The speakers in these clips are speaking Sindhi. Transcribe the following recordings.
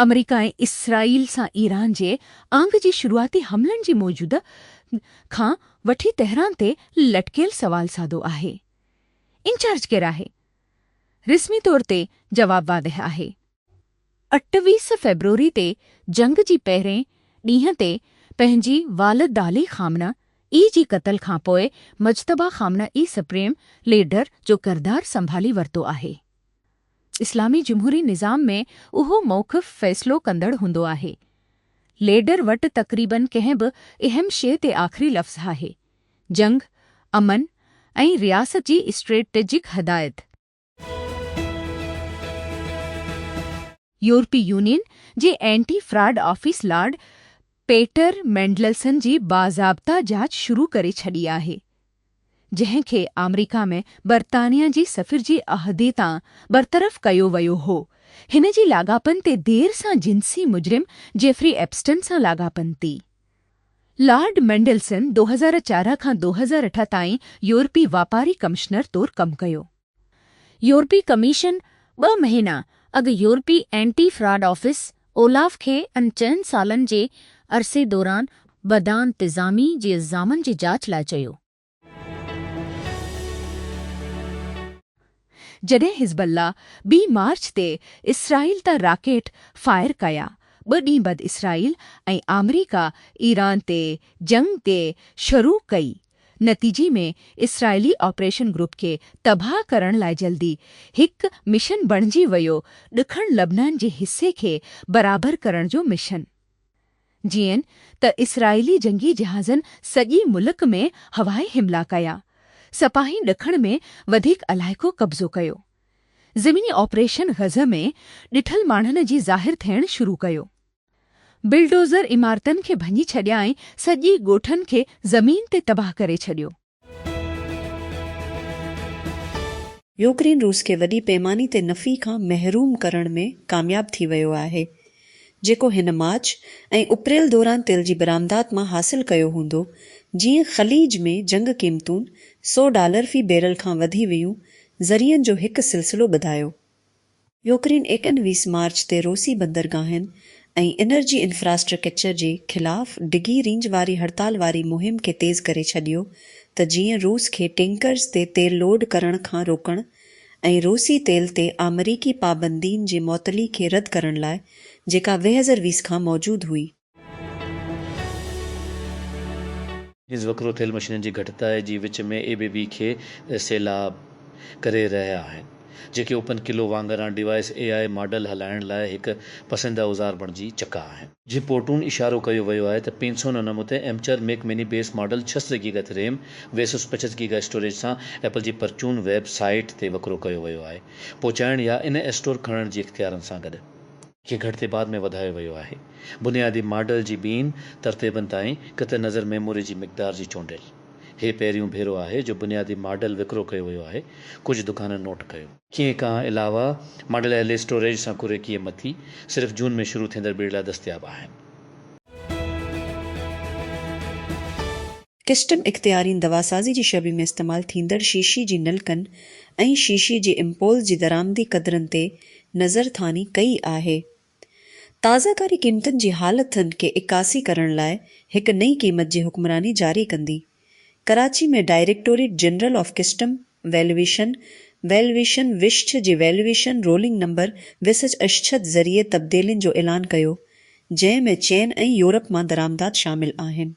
آمريڪا ۽ اسرائيل سان ايران جي آڱ جي شروعاتي حملن جي موجودگي کان وٺي تهران تي لٽڪيل سوال سادو آهي، انچارج ڪير آهي؟ رسمي طور تي جواب واضح آهي. اٺويهه فيبروري تي جنگ جي پهرين ڏينهن تي پنهنجي والدعلي خامنه اي جي قتل کان پوء Mojtaba Khamenei supreme leader جو ڪردار سنڀالي ورتو آهي. اسلامي جمهوري نظام ۾ اهو موقف فيصلو ڪندڙ هوندو آهي. ليڊر وٽ تقريباً ڪنهن به اهم شيء تي آخري لفظ آهي. جنگ، امن ۽ رياست جي اسٽريٽجڪ هدايت. يورپي يونين جي anti fraud office lord Peter Mandelson جي باضابطه جاچ شروع ڪري ڇڏي آهي، جنهن کي آمريڪا ۾ برطانيا جي سفير جي عهدي تان برطرف ڪيو ويو هو. هن جي لاڳاپن تي دير سان جنسي مجرم جيفري ايپسٽن سان لاڳاپن تي لارڊ مينڊلسن ڏهه هزار چارهن کان ڏهه هزار اٺ تائين يورپي واپاري ڪمشنر طور ڪم ڪيو. يورپي ڪميشن ٻه مهينا اڳ يورپي اينٽي فراڊ آفيس، اولاف، کي ان چئن سالن جي عرصي دوران بدانتظامي جي الزامن جي جاچ لاء چيو. جڏهن حزب الله ٻي مارچ تي اسرائيل تان راڪيٽ فائر ڪيا، ٻه ڏينهن بعد اسرائيل ۽ آمريڪا ايران تي جنگ تي شروع ڪئي، نتيجي ۾ اسرائيلي آپريشن گروپ کي تباهه ڪرڻ لاء جلدي هڪ مشن بڻجي ويو ڏکڻ لبنان جي حصي کي برابر ڪرڻ جو مشن. جيئن ته اسرائيلي جنگي جهازن سڄي ملڪ ۾ هوائي حملا ڪيا، سپاهين ڏکڻ ۾ وڌيڪ علائقو قبضو ڪيو. زميني آپريشن غزه ۾ ڏٺل ماڻهن جي ظاهر ٿيڻ شروع ڪيو. بلڊوزر عمارتن کي ڀڃي ڇڏيا ۽ سڄي ڳوٺن کي زمين تي تباهه ڪري ڇڏيو. يوڪرين روس کي وڏي پيماني تي نفعي کان محروم ڪرڻ ۾ ڪامياب ٿي ويو آهي، جيڪو هن مارچ ۽ اپريل دوران تيل جي برآمدات مان حاصل ڪيو هوندو، جيئن خليج ۾ جنگ قيمتون سؤ ڊالر في بيرل کان وڌي ويون، ذريعن جو هڪ سلسلو ٻڌايو. يوڪرين ايڪنويهه مارچ تي روسي بندرگاهن ۽ انرجي انفراسٽرڪچر جي خلاف ڊگهي رينج واري هڙتال واري مهم کي تيز ڪري ڇڏيو ته جيئن روس کي ٽينڪرز تي تيل لوڊ ڪرڻ کان روڪڻ ۽ روسي تيل تي آمريڪي پابندين جي معطلي کي رد ڪرڻ لاء جيڪا ويهزر ويس کان موجود هئي. نيز وڪرو ٿيل مشينن جي گهٽتائي جي وچ ۾ اي بي بي کي سيلاب ڪري رهيا آهن جيڪي اوپن قلعو وانگران ڊيوائيس اي آء ماڊل هلائڻ لاء هڪ پسنديده اوزار بڻجي چڪا آهن. جي پورٽون اشارو ڪيو ويو آهي ته پينسو نو نمو تي ايمچر ميڪ ميني بيس ماڊل ڇهه سو گيگا تي ريم ويسس پچس گيگا اسٽوريج سان ايپل جي پرچون ويب سائيٽ تي وڪرو ڪيو ويو آهي پهچائڻ يا ان اسٽور کڻڻ جي اختيارن سان گڏ. کي گهٽتي بعد ۾ وڌايو ويو آهي بنيادي ماڊل جي ٻين ترتيبن تائين قطع نظر ميموري جي مقدار جي چونڊيل هي پهريون ڀيرو آهي جو بنيادي ماڊل وڪرو ڪيو ويو آهي ڪجهه دڪانن نوٽ ڪيو. کي کان علاوه ماڊل اهل اسٽوريج سان ڪري ڪيئي مٿي صرف جون ۾ شروع ٿيندڙ ٻيڙ لاء دستياب آهن. ڪسٽم اختيارين دواسازي جي شعبي ۾ استعمال ٿيندڙ شيشي جي نلڪن ۽ شيشي جي امپولز جي درآمدي قدرن تي نظرثاني ڪئي آهي. تازه ڪاري قيمتن جي حالتن کي عڪاسي ڪرڻ لاء هڪ نئين قيمت جي حڪمراني جاري ڪندي. Karachi ۾ directorate general of custom valuation, Valuation، وشڇ جي ويلويشن رولنگ نمبر وسچ اشڇد ذريعي تبديلين جو اعلان ڪيو، جنهن ۾ چين ۽ يورپ مان درآمدات شامل آهن.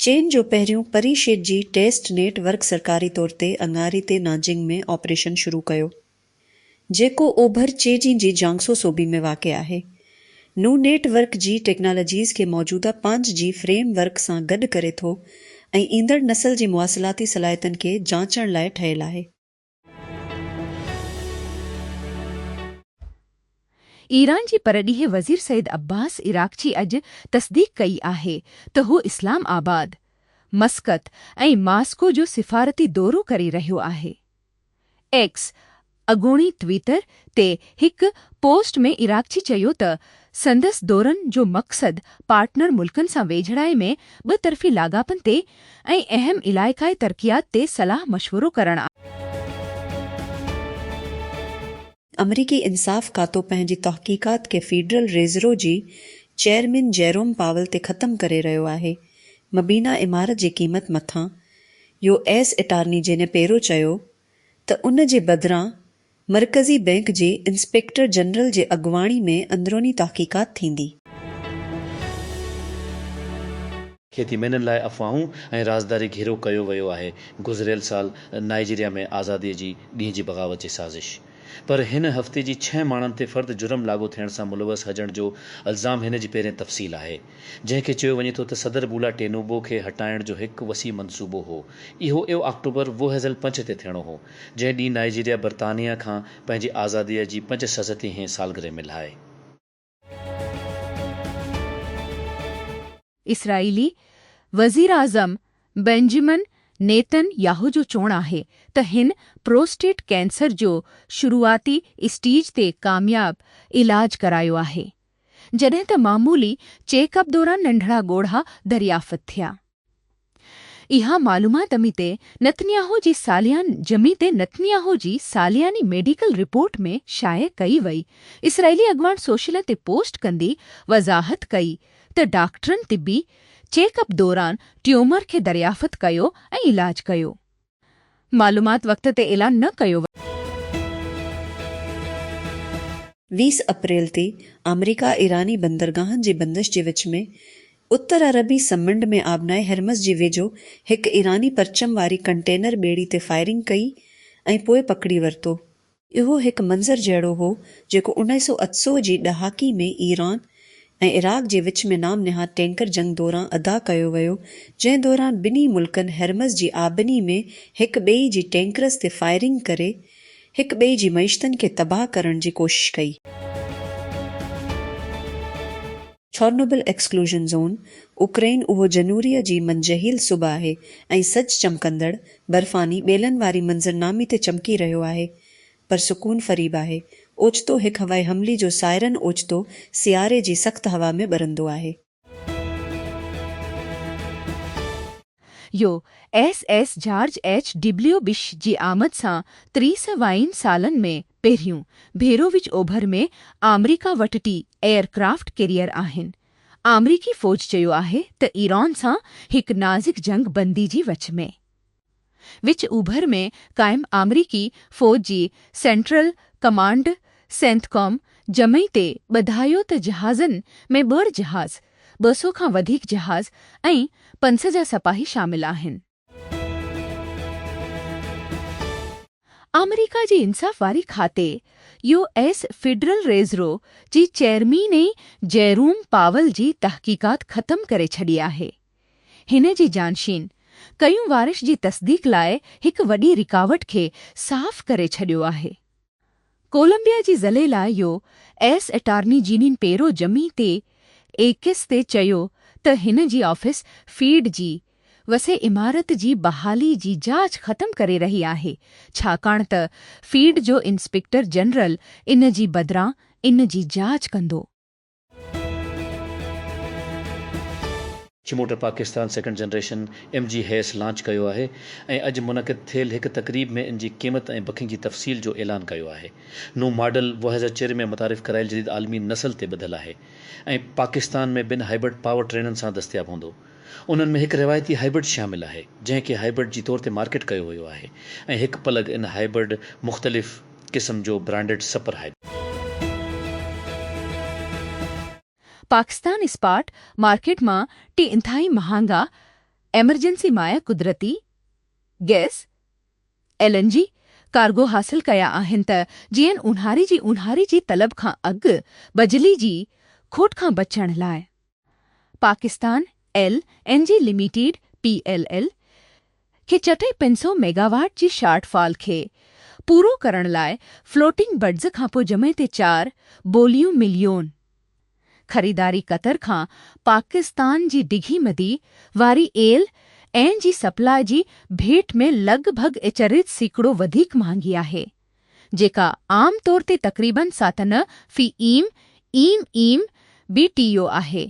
چين جو پهريون پري شيڊ جي ٽيسٽ نيٽ ورڪ سرڪاري طور تي اڱاري تي نانجنگ ۾ آپريشن شروع ڪيو، جيڪو اوڀر چيجين جي جيانگسو صوبي ۾ واقع آهي. نون نيٽ ورڪ جي ٽيڪنالاجيز کي موجوده پانچ جي فريم ورڪ سان گڏ ڪري ٿو ۽ ايندڙ نسل جي مواصلاتي صلاحيتن کي جانچڻ لاء ٺهيل آهي. ايران جي پرڏيهي وزير سيد عباس عراقچي اڄ تصديق ڪئي آهي ته هو اسلام آباد، مسقط ۽ ماسڪو جو سفارتي دورو ڪري رهيو آهي. ايڪس، اڳوڻي ٽوئيٽر، تي هڪ پوسٽ ۾ عراقچي چيو ته سندس دورن جو مقصد پارٽنر ملڪن سان ويجهڙائي ۾ ٻه طرفي لاڳاپن تي ۽ اهم علائقائي ترقيات تي صلاح مشورو ڪرڻ آهي. آمريڪي انصاف کاتو پنهنجي تحقيقات کي فيڊرل ريزرو جي چيئرمين جيروم پاول تي ختم ڪري رهيو آهي. مبينا عمارت جي قيمت مٿان يو ايس اٽارني جينيپيرو چيو ته ان جي بدران مرڪزي بئنڪ جي انسپيڪٽر جنرل جي اڳواڻي ۾ اندروني تحقيقات ٿيندي. کيتي مينھن لاء افواهون ۽ رازداري گھيرو ڪيو ويو آهي، گذريل سال نائيجيريا ۾ آزادي جي ڏينهن جي بغاوت جي سازش پر هن هفتي جي ڇهه ماڻهن تي فرد جرم لاڳو ٿيڻ سان ملوث هجڻ جو الزام هن جي پهرين تفصيل آهي جنهن کي چيو وڃي ٿو ته صدر بولا ٽينوبو کي هٽائڻ جو هڪ وسيع منصوبو هو اهو اهو آڪٽوبر ووهيزل پنڇ تي ٿيڻو هو جنهن ڏينهن نائيجيريا برطانيه کان پنهنجي آزاديء جي پنج سئو ستي هين سالگرهه ملهائي. اسرائيلي وزيراعظم بينجمن نيتن ياهو جو چوڻ آهي ته هن پروسٽيٽ ڪينسر جو شروعاتي اسٽيج تي ڪامياب علاج ڪرايو آهي، جڏهن ته معمولي چيڪ اپ دوران ننڍڙا ڳوڙها دريافت ٿيا. اها معلومات اميت نتنياهو جي ساليان جميت نتنياهو جي سالياني ميڊيڪل رپورٽ ۾ شايع ڪئي وئي. اسرائيلي اڳواڻ سوشل تي پوسٽ ڪندي وضاحت ڪئي ته ڊاڪٽرن طبي چيڪ اپ دوران ٽيومر کي دريافت ڪيو ۽ علاج ڪيو. معلومات وقت تي اعلان نه ڪيو ويو. ويهه اپريل تي آمريڪا ايراني بندرگاهن جي بندش جي وچ ۾ اتر عربي سمنڊ ۾ آبنائي هرمز جي ويجهو هڪ ايراني پرچم واري ڪنٽينر ٻيڙي تي فائرنگ ڪئي ۽ پوء پڪڙي ورتو اهو هڪ منظر جهڙو هو جيڪو انائي سئو اتسئو جي ڏهاڪي ۾ ايران ۽ عراق جي وچ ۾ نام نهاد ٽينڪر جنگ دوران ادا ڪيو ويو جنهن دوران ٻنهي ملڪن هرمز جي آبني ۾ هڪ ٻئي جي ٽينڪرز تي فائرنگ ڪري هڪ ٻئي جي معيشتن کي تباهه ڪرڻ جي ڪوشش ڪئي. ڇورنوبل ايڪسڪلوزن زون، اوڪرائين اهو جنوريء جي منجهيل صبح آهي ۽ سج چمڪندڙ، برفاني ٻيلن واري منظرنامي تي چمڪي رهيو آهي. پر سڪون فريب آهي. اوچتو هڪ هوائي حملي جو سائرن اوچتو سياري جي سخت هوا ۾ ٻرندو آهي. U S S George H W Bush جي آمد سان تريسه وائين سالن ۾ پهريون ڀيرو وچ اوڀر ۾ آمريڪا وٽ ٽي ايئر ڪرافٽ ڪيريئر آهن. آمريڪي فوج چيو آهي ته ايران سان هڪ نازڪ جنگ بندي جي وچ ۾ وچ اوڀر ۾ قائم آمريڪي فوج جي سينٽرل ڪمانڊ سينٿڪام جمعي تي ٻڌايو ته جهازن ۾ ٻه جهاز ٻه سؤ کان وڌيڪ جهاز ۽ پنج سئو جا سپاهي شامل آهن. آمريڪا جي انصاف واري کاتي، يو ايس فيڊرل ريزرو، جي چيئرميني جيروم پاول جي تحقيقات ختم ڪري ڇڏي آهي. هن جي جانشين ڪيون وارش جي تصديق لاء هڪ وڏي رڪاوٽ کي صاف ڪري ڇڏيو آهي. ڪولمبيا جي ضلعي لاء U S attorney Jeanine Pirro جمعي تي ايڪس تي چيو ته هن جي آفيس فيڊ جي وسيع عمارت جي بحالي جي جاچ ختم ڪري رهي آهي ڇاڪاڻ ته فيڊ جو انسپيڪٽر جنرل ان جي بدران ان جي جاچ ڪندو. چموٽر Pakistan second generation M G HS launch ڪيو آهي ۽ اڄ منعقد ٿيل هڪ تقريب ۾ ان جي قيمت ۽ بڪنگ جي تفصيل جو اعلان ڪيو آهي نون ماڊل وهزه چري ۾ متعارف ڪرايل جديد عالمي نسل تي ٻڌل آهي ۽ پاڪستان ۾ ٻن هائبرڊ پاور ٽرينن سان دستياب هوندو انهن ۾ هڪ روايتي هائبرڊ شامل آهي جنهن کي هائبرڊ جي طور تي مارڪيٽ ڪيو ويو آهي ۽ هڪ پلگ ان هائبرڊ مختلف قسم جو branded super hybrid. Pakistan spot market مان ٽي انتهائي مهانگا ايمرجنسي مائع قدرتي gas, L N G, cargo حاصل ڪيا آهن ته جيئن اونهاري جي اونهاري جي طلب کان اڳ بجلي جي کوٽ کان بچڻ لاء. Pakistan L N G limited, P L L, کي چٽي پنج سؤ ميگاواٽ جي شارٽ فال کي پورو ڪرڻ لاء فلوٽنگ بڊز کانپوء جمعي تي چار بوليون مليون خريداري قطر کان پاڪستان جي ڊگهي مدي واري ايل اين جي سپلاء جي ڀيٽ ۾ لڳ ڀڳ اچريت سيڪڙو وڌيڪ مهانگي آهي. جيڪا عام طور تي تقريباً ساتنه في M, M M, B T U آهي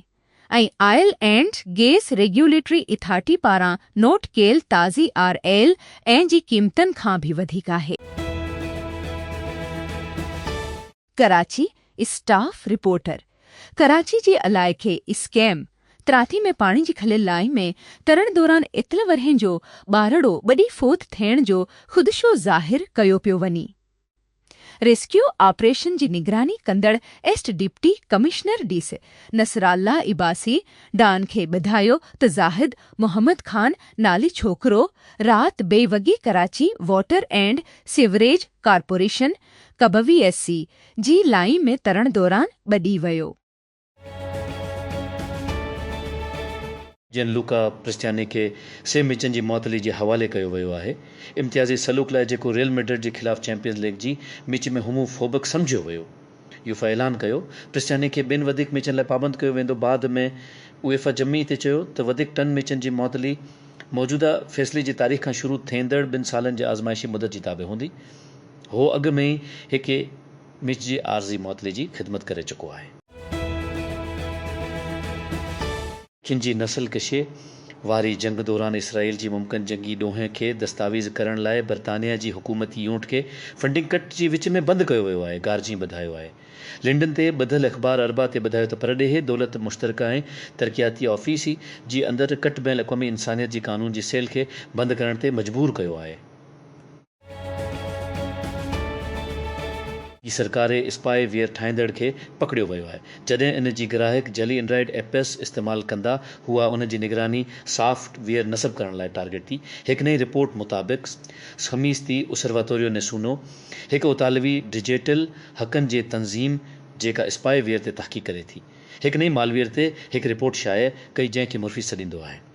۽ oil and gas regulatory authority پاران نوٽ ڪيل تازي آر ايل اين جي قيمتن کان به وڌيڪ آهي. ڪراچي، اسٽاف رپورٽر، ڪراچي جي علائقي اسڪيم تراتي ۾ پاڻي جي کليل لائين ۾ ترڻ دوران اتل ورهين جو ٻارڙو ٻڏي فوت ٿيڻ جو خدشو ظاهر ڪيو پيو وڃي. ريسڪيو آپريشن جي نگراني ڪندڙ east deputy commissioner D C Nasrullah Abbasi Dawn کي ٻڌايو ته زاهد محمد خان نالي ڇوڪرو رات بي وڳي Karachi water and sewerage corporation ڪبوي ايس سي جي لائين ۾ ترڻ دوران ٻڏي ويو. جيئن لوڪا پرستياني کي سيم مچن جي معطلي جي حوالي ڪيو ويو آهي. امتيازي سلوڪ لاء جيڪو ريئل ميڊرڊ جي خلاف چيمپيئنز ليگ جي ميچ ۾ هومو فوبڪ سمجهيو ويو. يوفا اعلان ڪيو پرستياني کي ٻين وڌيڪ ميچن لاء پابند ڪيو ويندو بعد ۾ ايوفا جمعي تي چيو ته وڌيڪ ٽن ميچن جي معطلي موجوده فيصلي جي تاريخ کان شروع ٿيندڙ ٻن سالن جي آزمائشي مدت جي تابع هوندي. هو اڳ ۾ ئي هڪ مچ جي عارضي معطلي جي خدمت ڪري چڪو آهي. ان جي نسل ڪشي واري جنگ دوران اسرائيل جي ممڪن جنگي ڏوهين کي دستاويز ڪرڻ لاء برطانيا جي حڪومتي يونٽ کي فنڊنگ ڪٽ جي وچ ۾ بند ڪيو ويو آهي. گارجين ٻڌايو آهي. لنڊن تي ٻڌل اخبار اربع تي ٻڌايو ته پرڏيهي دولت مشترڪه ۽ ترقياتي آفيس ئي جي اندر ڪٽ بين الاقوامي انسانيت جي قانون جي سيل کي بند ڪرڻ تي مجبور ڪيو آهي. جي سرڪاري اسپائي ويئر ٺاهيندڙ کي پڪڙيو ويو آهي جڏهن ان جي گراهڪ جعلي اينڊرائيڊ ايپس استعمال ڪندا هئا انهن جي نگراني سافٽ ويئر نصب ڪرڻ لاء ٽارگيٽ ٿي هڪ نئين رپورٽ مطابق خميس تي اسرواتوريو نيسونو هڪ اطالوي ڊجيٽل حقن جي تنظيم جيڪا اسپائي ويئر تي تحقيق ڪري ٿي هڪ نئين مالويئر تي هڪ رپورٽ شايع ڪئي جنهن کي مرفي سڏيندو آهي.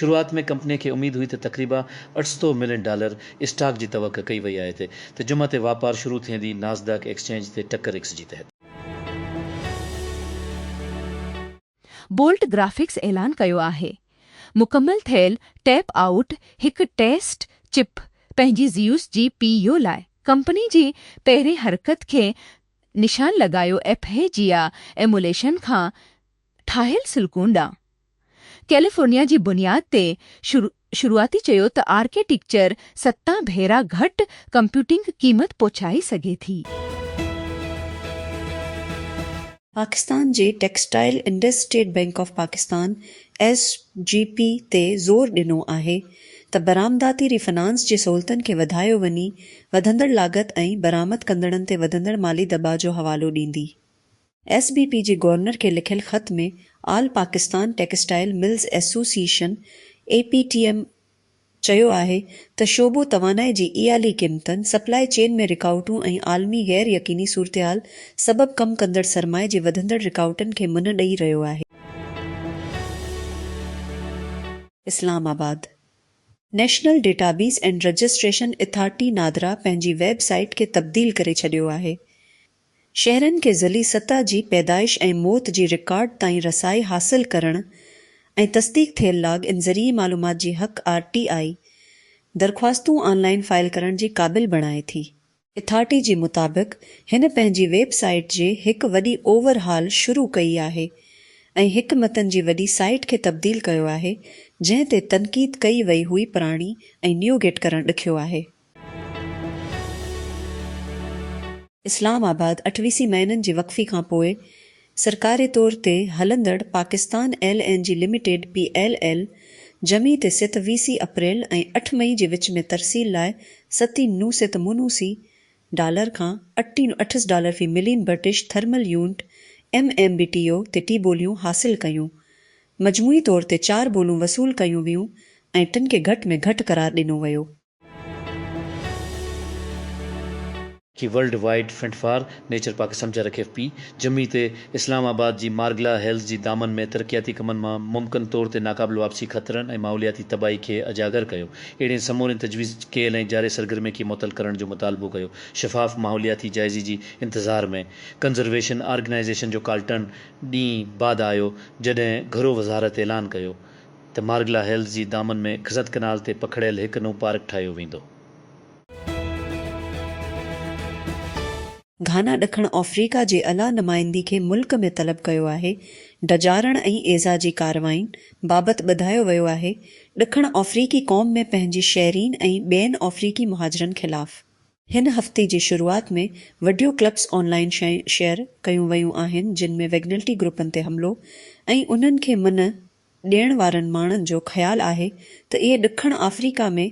شروعات ۾ ڪمپني کي اميد هئي ته تقريبا اٺ سؤ ملين ڊالر اسٽاڪ جي توقع ڪئي وئي آهي تي ته جمعه تي واپار شروع ٿيندي ناسداڪ ايڪسچينج تي ٽڪر ايڪس جي تحت. بولٽ گرافڪس اعلان ڪيو آهي مڪمل ٿيل ٽيپ آئوٽ هڪ ٽيسٽ چپ پنهنجي زيوس جي پي يو لاء ڪمپني جي پهرين حرڪت کي نشان لڳايو ايپهيجيا ايموليشن کان ٺاهيل سلڪون ڏانهن ڪيليفورنيا جي بنياد تي شروعاتي چيو ته آرڪيٽيڪچر ستان ڀيرا گهٽ ڪمپيوٽنگ قيمت پهچائي سگهي ٿي. پاڪستان جي textile industry bank of Pakistan S G P تي زور ڏنو آهي ته برآمداتي ري فنانس جي سهولتن کي وڌايو وڃي وڌندڙ لاڳت ۽ برآمد ڪندڙن تي وڌندڙ مالي دٻاء جو حوالو ڏيندي. ايس بي پي جي گورنر کي لکيل خط ۾ all Pakistan textile mills association, A P T M, چيو آهي ته شعبو توانائي جي اعالي قيمتن، سپلائي چين ۾ رڪاوٽون ۽ عالمي غير يقيني صورتحال سبب ڪم ڪندڙ سرمائي جي وڌندڙ رڪاوٽن کي منهن ڏئي رهيو آهي. Islamabad, national database and registration authority NADRA پنهنجي ويب سائيٽ کي تبديل ڪري ڇڏيو آهي، شهرين کي ضلعي سطح جي پيدائش ۽ موت جي رڪارڊ تائين رسائي حاصل ڪرڻ ۽ تصديق ٿيل لاگ ان ذريعي معلومات جي حق، آر ٽي آئي، درخواستون آن لائين فائل ڪرڻ جي قابل بڻائي ٿي. اٿارٽي جي مطابق هن پنهنجي ويب سائيٽ جي هڪ وڏي اوور هال شروع ڪئي آهي ۽ هڪ متن جي وڏي سائيٽ کي تبديل ڪيو آهي جنهن تي تنقيد ڪئي وئي هئي پراڻي ۽ نيوگيٽ ڪرڻ ڏکيو آهي. اسلام آباد، اٺ ويسي مهينن جي وقفي کان پوء سرڪاري طور تي هلندڙ Pakistan L N G limited, P L L, جمعي تي ست ويسي اپريل ۽ اٺ مئي جي وچ ۾ ترسيل لاء ستي نو ست منوسي ڊالر کان اٽي نو اٺس ڊالر في million British thermal unit, M M B T O, تي ٽي بوليون حاصل ڪيون. مجموعي طور تي چار بولون وصول ڪيون ويون ۽ ٽن کي گهٽ ۾ گهٽ قرار ڏنو ويو. جي world wide front for nature Pakistan جرڪ ايف پي جمعي تي اسلام آباد جي مارگلا هيلز جي دامن ۾ ترقياتي ڪمن مان ممڪن طور تي ناقابل واپسي خطرن ۽ ماحولياتي تباهي کي اجاگر ڪيو اهڙين سمورين تجويز ڪيل ۽ جاري سرگرمين کي معطل ڪرڻ جو مطالبو ڪيو شفاف ماحولياتي جائزي جي انتظار ۾ ڪنزرويشن آرگنائيزيشن جو ڪالٽن ڏينهن بعد آيو جڏهن گهرو وزارت اعلان ڪيو ته ته مارگلا هيلز جي دامن ۾ کزت ڪئنال تي پکڙيل هڪ نون پارڪ ٺاهيو ويندو. گهانا ڏکڻ آفريڪا جي اعليٰ نمائندي کي ملڪ ۾ طلب ڪيو آهي، ڊڄارڻ ۽ ايذاء جي ڪارروائين بابت ٻڌايو ويو آهي، ڏکڻ آفريڪي قوم ۾ پنهنجي شهرين ۽ ٻين آفريڪي مهاجرن خلاف. هن هفتي جي شروعات ۾ video clips online share ڪيون ويون آهن جن ۾ ويگنلٽي گروپن تي حملو ۽ انهن کي منهن ڏيڻ وارن ماڻهن جو خيال آهي ته اهي ڏکڻ آفريڪا ۾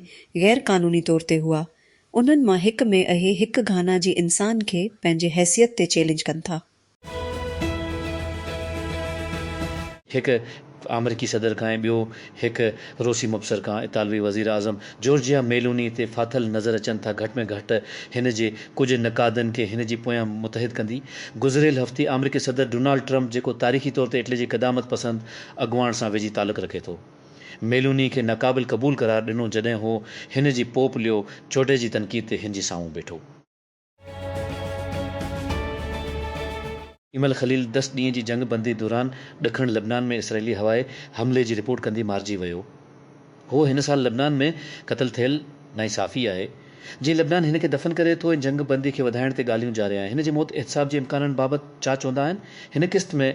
غير قانوني طور تي هئا. انهن مان هڪ ۾ اهي هڪ گهانا جي انسان کي پنهنجي حيثيت تي چئلينج ڪن ٿا. هڪ آمريڪي صدر کان ۽ ٻيو هڪ روسي مبصر کان اطالوي وزير اعظم جورجيا ميلوني تي ڦاٿل نظر اچن ٿا گهٽ ۾ گهٽ هن جي ڪجهه نقادن کي هن جي پويان متحد ڪندي. گذريل هفتي آمريڪي صدر ڊونالڊ ٽرمپ جيڪو تاريخي طور تي اٽلي جي قدامت پسند اڳواڻ سان ويجهي تعلق رکي ٿو ميلوني کي ناقابل قبول قرار ڏنو جڏهن هو هن جي پوپ ليو چوڏهن جي تنقيد تي هن جي سامهون بيٺو. ايمل خليل دس ڏينهن جي جنگ بندي دوران ڏکڻ لبنان ۾ اسرائيلي هوائي حملي جي رپورٽ ڪندي مارجي ويو هو هن سال لبنان ۾ قتل ٿيل نائين صحافي آهي جي لبنان هن کي دفن ڪري ٿو ۽ جنگ بندي کي وڌائڻ تي ڳالهيون جاري آهن هن جي موت احتساب جي امڪانن بابت چاچ هوندا آهن هن قسط ۾